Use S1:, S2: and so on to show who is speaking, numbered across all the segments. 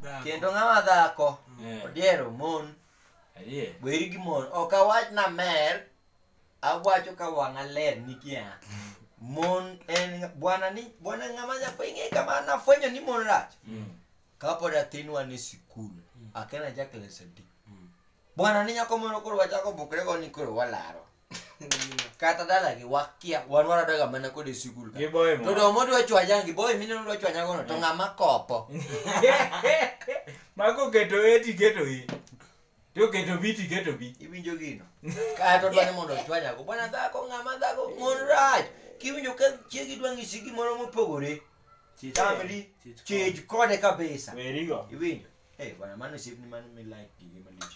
S1: Dhako. kendo ng'ama dhako Eh, odiero mon adier. weri gi mon ok awach na mer awacho ka wang'a ler nikia mon en bwana ni bwana ng'ama nyafwenye kama nafwenyo ni mon rach Mm. kapod athinwa ni sikul akena jakles adi bwana ni nyako moro koro wachako bukre go ni koro walaro kata dala gi wakia wan waradoga mana kode sikul ka Giboye mo. to do mondo wachwanya gi boy mine mondo wachwanya gono to ng'ama kopo
S2: Mako keto e ti keto i. To keto bi ti keto bi. iwinjo gino
S1: kato dwani mondo ochwanya go bwana dhako ng'ama dhako mon rach kiwinjo ka chiegi dwa ng'isi gimoro mopogore Chich- tamri chich- chej kode kabisa Werigo. iwinjo
S2: Eh, bwana
S1: mano osiepni mano mi like gige malich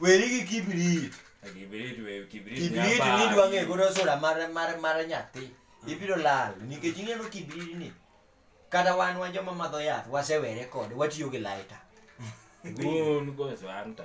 S1: weri gi kibrit kibrit we kibrit kibrit ni dwa ng'e godo sura mar mar mar nyathi ibiro lal nikech ing'eno kibrit ni kata wan wa joma madho yath wasewere kode watiyo gi laita
S2: un
S1: go santa